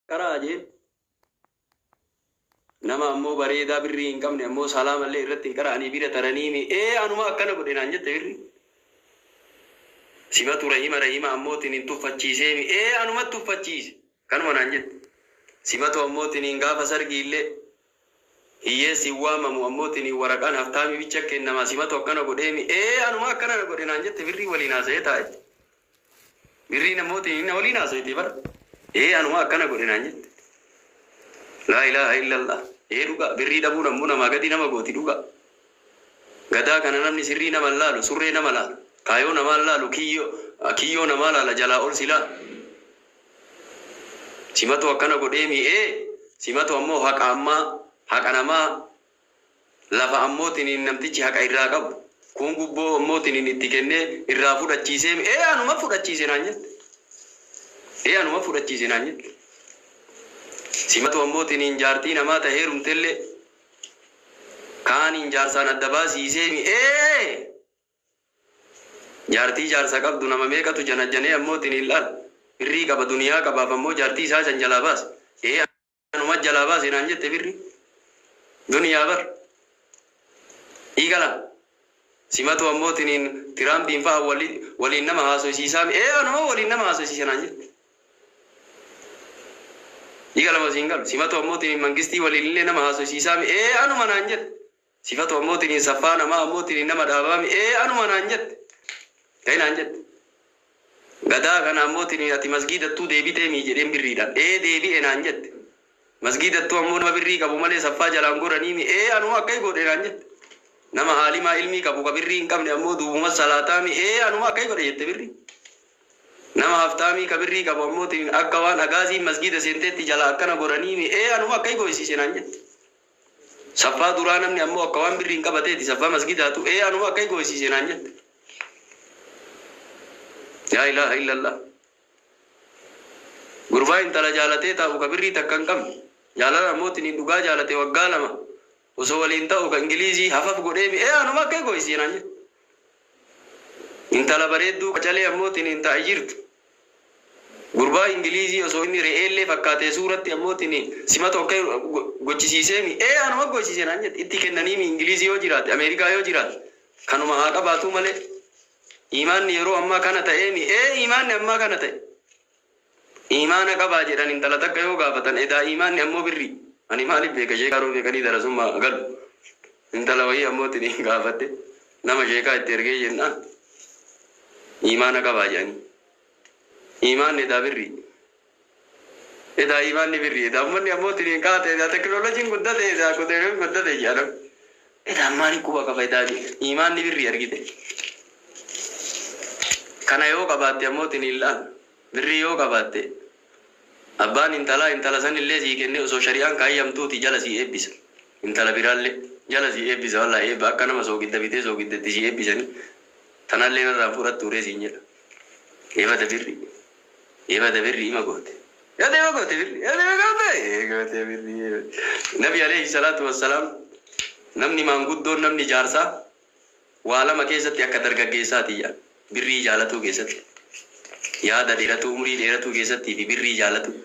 Qaraa jeen nama ammoo bareedaa birrii hin qabne ammoo salaama illee irratti hin qara'anii bira taranii mi ee anuma akkana godhe naan jette birri simatu rahima rahima ammootiin hin tuffachiisee mi ee anuma tuffachiise kanuma naan jette simatu ammootiin hin gaafa sargii illee hiyyeessi hin waamamu ammootiin hin waraqaan haftaamii bicha kennama simatu akkana godhee mi ee anuma akkana na godhe naan jette birrii waliin haasa'ee taa'e. Dhirrii namootiin na waliin haasaytee bar ee anumaa akkana godhe naan jette. Laa ilaaha illallah ee dhugaa birrii dhabuun ammoo namaa gadi nama gooti dhugaa. Gadaa kana namni sirrii nama hin laalu surree nama laala kaayoo namaa hin laalu kiyyoo kiyyoo namaa laala jalaa ol si laala. Simatu akkana godheemii ee simatu ammoo haqa ammaa haqa namaa lafa ammootiniin namtichi haqa irraa qabu kuun gubboo ammootiniin itti kennee irraa fudhachiiseem ee anuma fudhachiise naan jette ee anuma fudhachiise naan jette simatu ammootiniin jaartii namaa ta heerumtellee kaaniin jaarsaan adda baasiiseemi ee jaartii jaarsa qabdu nama meeqatu janajanee ammootiniin laal birrii qaba duniyaa qabaaf ammoo jaartii isaa san jalaa baasa ee Kanuma jalaa baasi naan jette birri duniyaa bar dhiigalaan simatu ammoo tiniin tiraampiin fa'a wali waliin nama haasoysiisaami ee anuma waliin nama haasoysiisa naan jette dhiigalama siin galu simatu ammoo tiniin mangistii waliinillee nama haasoysiisaami ee anuma naan jette Sifatu ammoo tiniin saffaa namaa ammoo tiniin nama dhaabaami ee anuma naan jette ee naan jette gadaa kana ammoo tiniin ati masgiidattuu deebiteemii jedheen birriidhaan ee deebi'e naan jette masgiidattuu ammoo nama birrii qabu malee saffaa jalaan goraniimi ee anuma akkai godhe naan jette nama aalimaa ilmii qabu ka birrii hin qabne ammoo duubuma salaataami ee anuma akkai godhe jette birrii nama haftaamii ka birrii qabu ammoo tiniin akka waan agaaziin masgiida seenteetti jalaa akkana goraniimi ee anuma akkai goysiise naan jette Saffaa duraa namni ammoo akka waan birriin qabateeti saffaa masgidaatu ee anuma akka igooysiise naan jette. Yaa ilaaha illallah. Gurbaa intala jaalatee taa'u ka birrii takka hin qabne jaalala ammootiin dhugaa jaalate waggaa lama osoo waliin ta'u ka ingiliizii hafaf godheefi ee anuma akka igooysiise naan jette. Intala bareedduu qacalee ammoo tiniin ta'a jirtu. Gurbaa Ingiliizii osoo inni re'eellee fakkaatee suuratti ammoo tini simata ok gochisiiseemi ee anuma gochisiise naan jette itti kennaniimi Ingiliizii yoo jiraate Ameerikaa yoo jiraate kanuma haa qabaatuu malee iimaanni yeroo ammaa kana ta'eemi ee iimaanni ammaa kana ta'e. Iimaana qabaa jedhan intala takka yoo gaafatan edaa iimaanni ammoo birri ani maalin beeka sheekaa roobe galii darasumma galu intala wayii ammoo tini gaafadhe nama sheekaa itti ergee jennaan iimaana qabaa jedhanii iimaanni edaa birri edaa iimaanni birri edaa ummanni ammoo tiniin kaate edaa teknolojiin guddate edaa kuteeleen guddate jedhan Edaa maali quba qaba edaa jete imaanni birrii argite kana yoo qabaatte ammoo tiliillaan birrii yoo qabaatte abbaan intalaa intala sanillee sii kennee osoo shari'aan kaayyamtuuti jala sii eebbisa intala biraallee jala sii eebbisa wallahi eebba akka nama soogidda bitee soogidda itti sii eebbisanii tanallee narraa hin fudhattuuree siin jedha eebada birrii Ee bada birri ima gote. Gote ima gote birri gote ima gote ee gote birri ee gote. Nabi aleeyhi salaatu wassalaam namni maanguddoon namni jaarsaa waa lama keessatti akka dargaggeessaati jedhan birrii jaalatuu keessatti yaada dheeratuu umrii dheeratuu keessatti fi birrii jaalatuu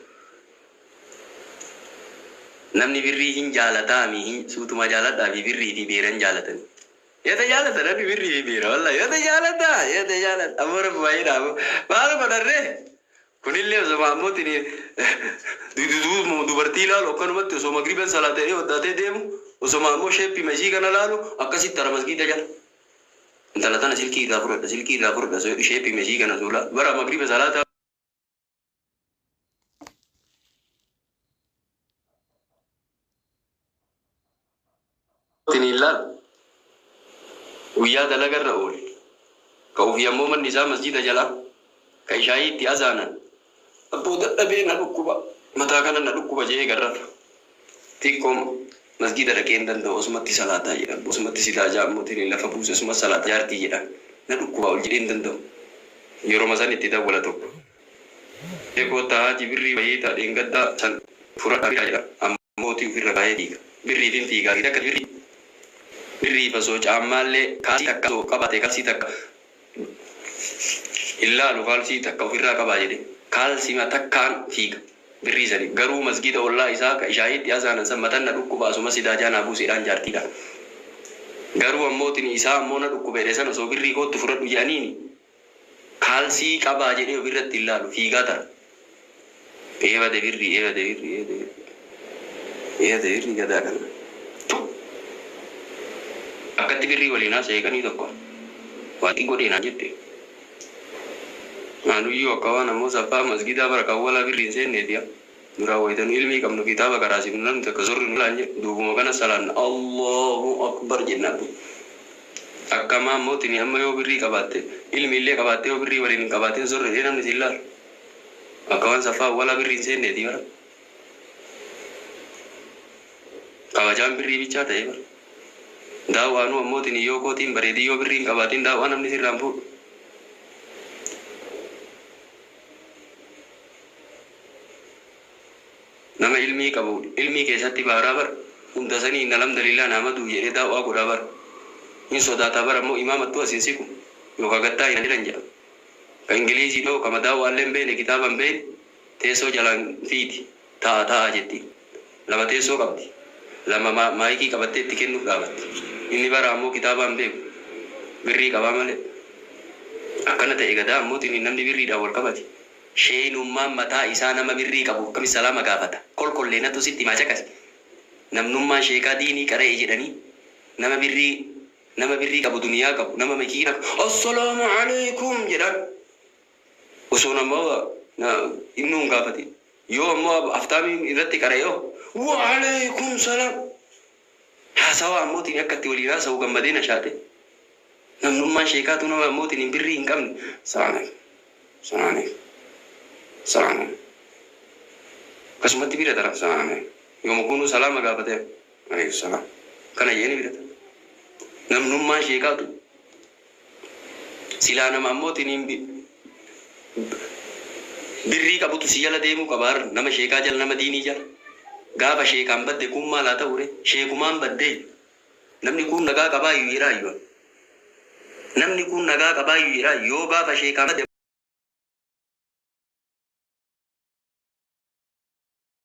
namni birrii hin jaalataami hin suutumaa jaaladhaa fi birrii fi beera hin jaalatani. Yada jaalata rabbi birri fi biira wallahi yada jaalata yada jaalata ammoo rabbi waa hidha ammoo maal godharre kunillee osoo maammootini duuduu dubartii laalu akkanumatti osoo magriban salaatee waddaatee deemu osoo maammoo sheeppi masii kana laalu akkasitti tara masgiida jala intala tana silkii irraa fudhadha silkii irraa fudhadha osoo sheeppi masii kana osoo laalu bara magriba salaataa Tiniillaan guyyaa dalagarra oole. Ka ofii ammoo manni isaa masjiida jala. Ka ishaa'ii itti azaanan. Abboo dadhabee na dhukkuba, mataa kana na dhukkuba je'ee gad rafa. Xiqqom masgiida dhaqee hin danda'u asumatti salaataa jedha asumatti sidaa jaa mootini lafa buuse asumas salaata jaartii jedha na dhukkubaa ol jedhee hin danda'u yeroma san itti dawwala tokko ee koottaa haaji birrii wayii ta dheengaddaa san furadhaa fidaa jedha ammootii ufirra kaayee fiiga birriifin fiigaa fiiga akkati birrii birriif osoo caammaallee kaalsii takka osoo qabaatee kaalsii takka hin laalu kaalsii takka ufirraa qabaa jedhee kaalsima takkaan fiiga. birrii sani garuu masgiida ollaa isaa ka ishaa'iitti azaanan san matan na dhukkuba asuma sidaajaa naa buusi jedhaan jaartii kana garuu ammoo tini isaa ammoo na dhukkubeedha isan osoo birrii koottu fudhadhu jedhaniini kaalsii qabaa jedhee ofi irratti hin laalu fiigaa tara eebade birrii eebade birrii eebade birrii eebade birrii gadaa kana tu akkatti birrii waliin haasa'e qanii tokko waanti godhee naan jette. Anuyyuu akka waan ammoo saffaa masgiidaa bara kan walaa birrii hin seennee tiya. Duraan wayta nu ilmii qabnu kitaaba qaraasifnu namni takka zorri nu laal hin jedhu. Duubuma kana salaanna. Allaahu akbar jenna abbo. Akkam ammoo tini amma yoo birrii qabaatte, ilmiillee qabaattee yoo birrii waliin hin qabaatin zorri jedhee namni si hin laalu. Akka waan saffaa awwalaa birrii hin seennee ti bara. Kabajaan birrii bichaa ta'ee bar. Daaw'aanuu ammoo tiniyyoo kootii hin bareedin yoo birrii hin qabaatin daaw'aa namni sirraa hin fuudhu. Nama ilmii qabu ilmii keessatti baaraa bar hundasanii inna lamdalillaah naa maduu jedhee daaw'aa godhaa bar. Hin sodaataa bar ammoo imaa mattuu as hin siqu yookaa gattaa hin jiran jedhama. Ka Ingiliizii dhoo kama daaw'aallee hin beeyne kitaaba hin beeyne. Teessoo jalaan fiidi taa'a taa'a jetti. Lama teessoo qabdi. Lama maayikii qabattee itti kennuuf dhaabatti. Inni baraa ammoo kitaabaa hin beeku. Birrii qabaa malee. Akkana ta'e gadaa ammootiin namni birriidhaan wal qabate. Sheeynummaan mataa isaa nama birrii qabuuf akkamitti salaama gaafata? Kolkollee natu sitti himaa caqasi. Namnummaan sheekaa diinii qara'e jedhanii. Nama birrii Nama birrii qabu duniyaa qabu. Nama makiina qabu. Assalaamu Aleykum jedhaan. Osoo nama ibnuu hin gaafatin. Yoo ammoo haftaamiin irratti qara'e hoo? Wa aleykum salaam! Haasawaa ammootiin akka itti waliin haasawu gammadee nashaate. Namnummaan sheekaatuu nama ammootiin hin birrii hin qabne. Salaam aleykum! Salaam aleykum! Salaam aleykum! Akkasumatti bira tara. Salaam aleykum! Yooma kuunuu salaama gaafate. Aleykum salaam! Akkana jedhanii bira tara. Namnummaan sheekaatuu. Silaa nama ammoo tiniin bi birrii qabutu si jala deemuu qaba arr nama sheekaa jala nama diinii jala gaafa sheekaan badde kuun maal haa ta'u ree sheekumaan baddee namni kuun nagaa qabaayyu iraayyu an namni kuun nagaa qabaayyu iraayyu yoo gaafa sheekaan badde